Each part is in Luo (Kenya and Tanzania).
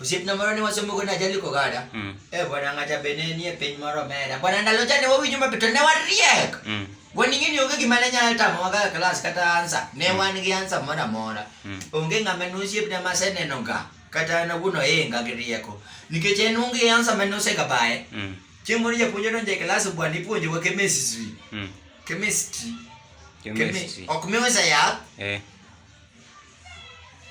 Osiepna moro ne wasomo go najali kogada. Mm. Eh bwana ng'ata bene nie piny moro mera. Bwana ndalo cha ne wawinjo maber to ne wariek. Mm. Waning'e ni onge gima ne nyalo tamowa kaka klas kata ansa. Ne wan gi ansa moro amora. Mm. Onge ng'ama ne osiepna ma aseneno ga kata an awuon ohinga gi rieko. Nikech en onge ansa ma ne osegabaye. Mm. Chieng' moro japuonj odonjo e klas bwana ipuonjowa chemistry. Mm. Chemistry. Chemistry. Chemi- Ok miwa sa yath. Eh.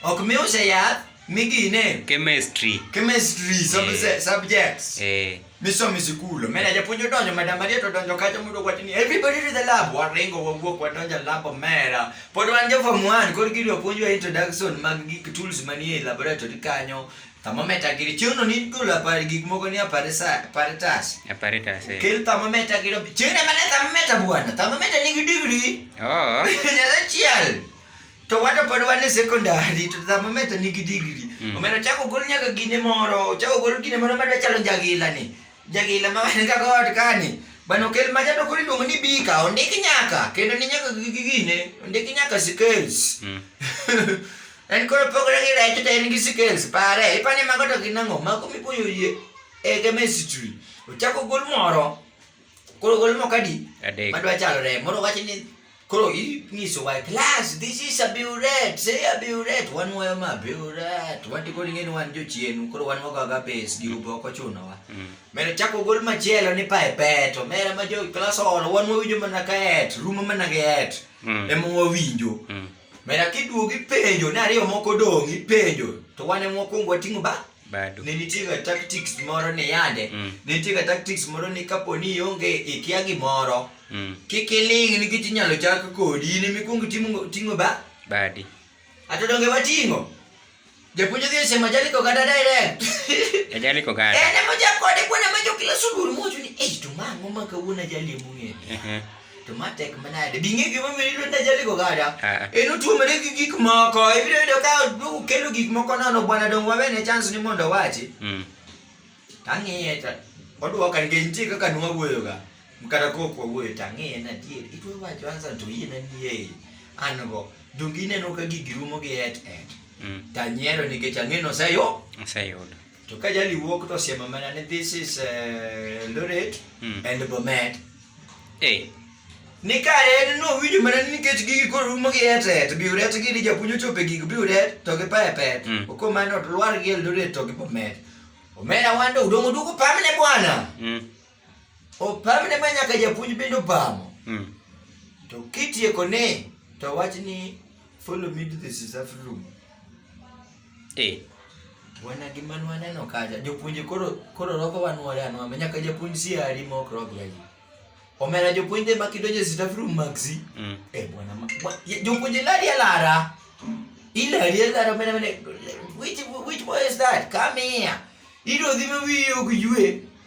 ok miuse yath migine chemistry chemistry subse- Eh. subjects eh misomo e sikul omena japuonj odonjo madam maria to odonjo kacha mondo wacho ni everybody to the lab waringo wawuok wadonjo e lab omera pod wan jo form 1 koro gidwa puonjwa introduction mag gik tools manie e laboratory kanyo thermometer giri chieng'no ni golo apar gik moko ni aparesa- apparatus apparatus eh kel thermometer giro chieng'no mana thermometer bwana thermometer nigi degree oh nyalo chiel to wato pod wan e secondary to thamame to nigi digri mm. omeno chako gol nyaka gine moro chako gol gine moro madwa chalo jagila ni jagila ma wan ka god kani bano kel ma jato kori luongo ni bika ondiki nyaka kendo ni nyaka gigi gine ondiki nyaka skills mm. en koro pogre gi rech to en gi skills pare ipani mago to ginango mago mipuonjo yie e chemistry ochako gol moro koro gol moko adi adek madwa chalo remo moro wacho ni koro inyisowa e class this is a buret say a buret wan wayo ma buret wati koro ing'e ni wan jochienu koro wan wagaga pes gi ube ok ochunowa Mm. mero chako gol machielo ni pae peto mera ma jo class olo wan wawinjo mana ka et rumo mana gi et Mm. ema wawinjo Mm. mera kiduogo ipenjo ni ariyo moko dong' ipenjo to wan ema wakwongo wating'o ba bado ne nitiega tactics moro ni yande mm. ne nitiega tactics moro ni kapo ni ionge ikia gimoro mm. kik iling nikech inyalo chak kodi in emikwongo ting'o ba badi ato donge wating'o japuonj odhi osema jali kogada direct ajali kogada ene mojakode kwana majo kila sugul mowacho ni ei to mang'o ma kawuono ajali emong'eyo to ma tek manade bi ng'e gima miyo iluonda jali kogada Eh. en otuomore gi gik moko ibiro yudo ka ukelo gik moko nono bwana dong wawene chance ni mondo owachi Mm. tang'iye to odwoka nikech nitie kaka nwawuoyoga kata kok wawuoyo tang'iye na adier itwe wacho ansa to yie na nie an go donge ineno ka gigi rumo gi et et Mm. tanyiero nikech ang'e noseyo Aseyudo. To ka jali wuok to siemo mana ni this is uh, Eldoret Hmm. and Bomet. Eh, Ni kare en no winjo mana ni nikech gigi koro rumo gi etet, biuret gi ni japuonj ochope gig biuret to gi pepet. Hmm. Oko mano to lwar gi Eldoret to gi Bomet. Omera wando udongo duko pamne bwana. mm. opamne ma nyaka japuonj bende opamo mm. to kitieko ni to wach ni follow me to the reserve room eh wana gi man waneno kaja jopuonje koro koro roko wanwore anwame nyaka japuonj si ari mok rok gaji omera jopuonj de makidonje reserve room maxi mm. eh bwana jopuonje lari alara ila ari alara mena mena which which boy is that come here iro dhime wiyo gijue